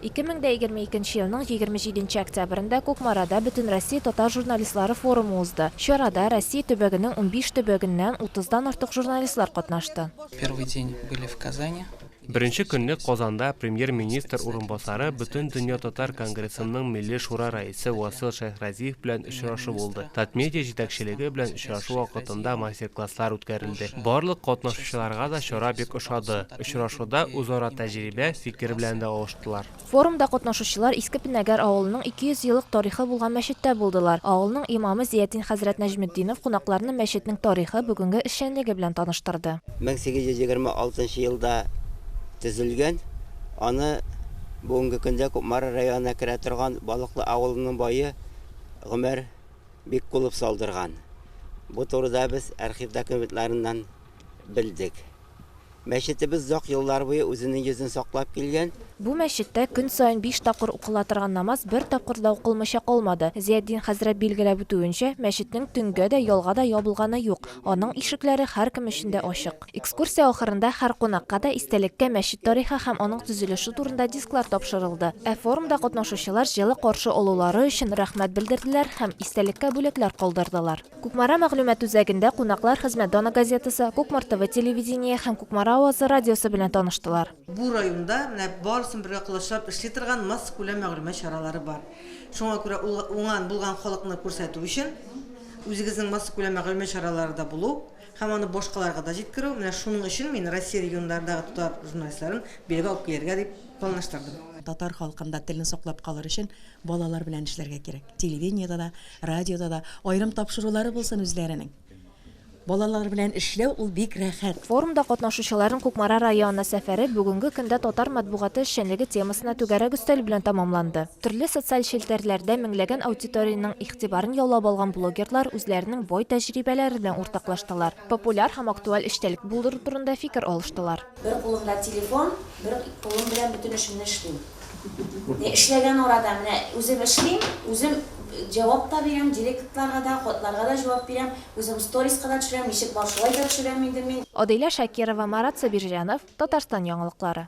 Ике мең дә егерме икенче елның егерме җиденче октябрендә Кукмарада Бөтенроссия татар журналистлары форумы узды. Чарада Россия төбәгенең унбиш төбәгеннән утыздан артык журналистлар катнашты. Первый день были в Казани. Беренче көнне Казанда Премьер-министр урынбасары Бөтендөнья татар конгрессының Милли шура рәисе Васил Шәйхразиев белән очрашу булды. Татмедиа җитәкчелеге белән очрашу вакытында мастер-класслар үткәрелде. Барлык катнашучыларга да чара бик ошады. Очрашуда үзара тәҗрибә, фикер белән дә алыштылар. Форумда катнашучылар Иске Пенәгәр авылының 200 еллык тарихы булган мәчеттә булдылар. Авылның имамы Зиятдин хәзрәт Нәҗметдинов кунакларны мәчетнең тарихы, бүгенге эшчәнлеге белән таныштырды. 1826 нчы елда төзелгән, аны бүгенге көндә Кукмара районына керә торган Балыклы авылының бае Гомәр Биккулов салдырган. Бу турыда без архив документларыннан белдек. Мәчетебез озак еллар буе үзенең йөзен саклап килгән. Бу мәчеттә көн саен биш тапкыр укыла торган намаз бер тапкыр да укылмыйча калмады. Зыятдин хәзрәт билгеләп үтүенчә, мәчетнең төнгә дә, ялга да ябылганы юк. Аның ишекләре һәркем өчен дә ачык. Экскурсия ахырында һәр кунакка да истәлеккә мәчет тарихы һәм аның төзелеше турында дисклар тапшырылды, ә форумда катнашучылар җылы каршы алулары өчен рәхмәт белдерделәр һәм истәлеккә бүләкләр калдырдылар. Кукмара мәгълүмат үзәгендә кунаклар Хезмәт даны газетасы, Кукмар ТВ телевидение һәм Кукмара авазы радиосы белән таныштылар. Бу районда менә барысын бергә колачлап эшли торган массакүләм мәгълүмат чаралары бар. Шуңа күрә ул уңган, булган халыкны күрсәтү өчен, Үзегезнең массакүләм мәгълүмат чараларыда булу һәм аны башкаларга да җиткерү, менә шуның өчен мин Россия регионнарындагы татар журналистларын бергә алып килергә дип планлаштырдым. Татар халкында телне саклап калыр өчен балалар белән эшләргә кирәк. Телевидениедә дә, радиода да аерым тапшырулары булсын үзләренең. Балалар белән эшләү ул бик рәхәт. Форумда катнашучыларның Кукмара районына сәфәре бүгенге көндә татар матбугаты эшчәнлеге темасына түгәрәк өстәл белән тәмамланды. Төрле социаль челтәрләрдә меңләгән аудиториянең игътибарын яулап алган блогерлар үзләренең бай тәҗрибәләре белән уртаклаштылар, популяр һәм актуаль эчтәлек булдыру турында фикер алыштылар. Бер кулымда телефон, бер кулым белән бөтен эшемне эшлим. Менә эшләгән арада, менә үзем эшлим, үзем җавап та бирәм, директларга да, хатларга да җавап бирәм, үзем сториска да төшерәм, ничек бар шулай да төшерәм инде мин. Аделя Шакирова, Марат Сабирҗанов, Татарстан яңалыклары.